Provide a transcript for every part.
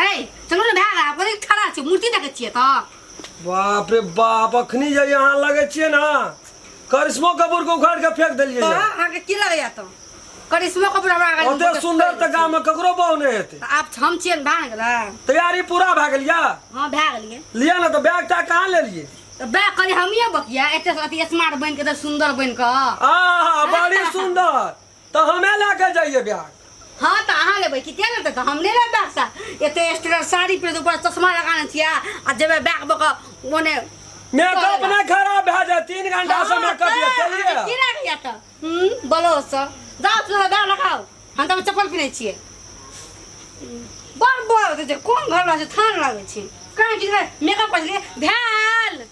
ए चलो ना भाग आप कहीं खड़ा छी मूर्ति देखे छिए त बाप रे बाप अखनी जे यहाँ लगे छिए ना करिश्मो कपूर को उखाड़ के फेंक देलिए तो यहाँ। आके की लगे या तो करिश्मा कपूर हमरा आगे ओते सुंदर त गांव में ककरो बहु नहीं हेते आप हम छिए भाग गेला तैयारी पूरा भए गेल या हां भाग लिए लिया ना तो बैग टा कहाँ ले लिए तो बे करी हमिए बकिया एते अति स्मार्ट बन के एते सुंदर बन के आहा बड़ी सुंदर तो हमें लेके जाइए ब्याग हाँ तो अहाँ लेबै कि किया लेतै तो हम नहीं लेबै बैग सा एते स्टूडेंट साड़ी पीढ़ ऊपर चश्मा लगाने छियै आ जेबै बैग बक ओने मेकअप नहीं खराब भए जाए तीन घंटा से मेकअप ये चलिए की लागैया तो हम्म बोलो सो जाओ तू बैग लगाओ हम तो चप्पल पीने छियै बड़ बड़ जे कोन घर में जे थान लागै छै कहाँ कि मेकअप कर लिए भैल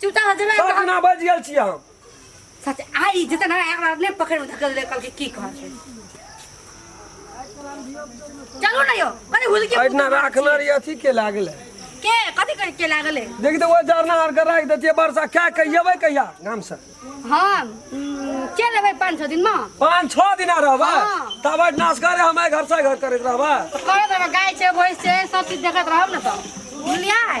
चुपचाप भऽ जेबै सब दिना बाजि गेल छियै हम सच आई जतन ना एकरा ने पकड़ में धकल दे कल के की कह छै चलो ना यो कने हुल के अहिना राखने रही अथी के लागल है। के कथी कर के लागल है देख दे वो जरना आर के राखि देतियै वर्षा क्या कहियबै कहिया गाम से हम उम, के लेबै 5 6 दिन में पाँच छः दिना रहबै हाँ। तब अहिना से करे हम घर से घर करैत रहबै करत रह गाय छै भैंस छै सब चीज देखत रहब ना तो बुझलियै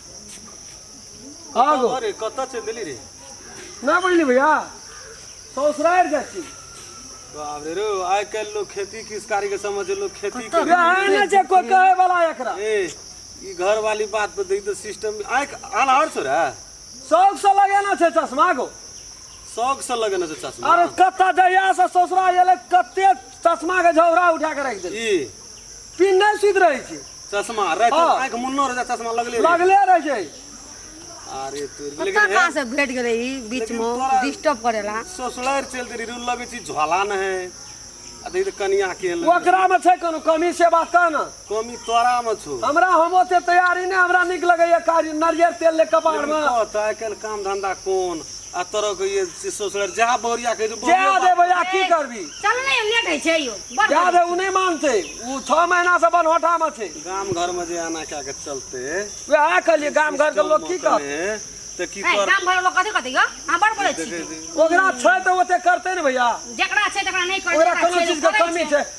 कहाँ गो अरे कतऽ चलि देली रे ना बुझली भैया ससुरार जाइ छी बाप रे रो आइ काल्हि लोग खेती किसकारी के समझ लोग खेती के यहाँ ना छै कोइ कहे वाला एकरा ए ई घर वाली बात पे देखी तो सिस्टम आइ अनहर सो रे शौक से लगेना छै चश्मा गो शौक से लगेने छै चश्मा अरे कत्ता जहिया से ससुरार एलै कते चश्मा के झौरा उठा के रख दे ई पिन नहीं सुत रहे छी चश्मा राति हाँ। आँखि मुन्नो रहै चश्मा लगले रहै। लगले रहे छै अरे तोर पता लेकिन कहाँ से भेट गेलै ई बीच लेकिन में तोरा- डिस्टर्ब करेला ससुरार चल दे रू लगे छी झोला न है अरे ई त कनिया के ओकरा में छै कोनो कमी से बात कह ना कमी तोरा में छो हमरा हम ओते तैयारी ने हमरा निक लगैया कारी नारियर तेल ले कपार लेकिन में कह तऽ आइ काल्हि काम धंधा कोन आ तोरा के ये से सोचलर जा बोरिया के जे जे बोरिया दे भैया की करबी चल ने लेट होइ छै यौ बड़ जा दे उ नहीं मानते उ 6 महीना से बनहोटा में छै गाम घर में जे आना क्या के चलते वएह कहलिए गाम घर के लोग की कर ते की ए, कर गाम घर लोग कथी कथी यौ अहाँ बड़ बोलै छी ओकरा छै तऽ ओते करते ने भैया जकरा छै तकरा नहि करै ओकरा कोनो चीज के कमी छै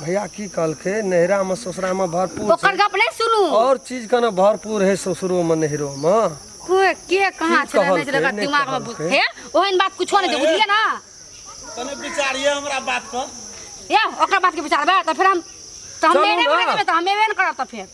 भैया की कहलकै नैहरा में ससुरा में भरपूर ओकर छै गप नहि सुनू और चीज के ने भरपूर है ससुरो में नैहरो में कोई के कहाँ की छलै नहि छलै ओकरा कहलकै, दिमाग मे नहि हे ओहन बात कुछो नहि छै बुझलियै ने तने विचारिए हमरा बात पर ए ओकर बात के विचारबै तऽ फेर हम तऽ हम चलू एबे ने। करबै तऽ हम एबे ने करब तऽ फेर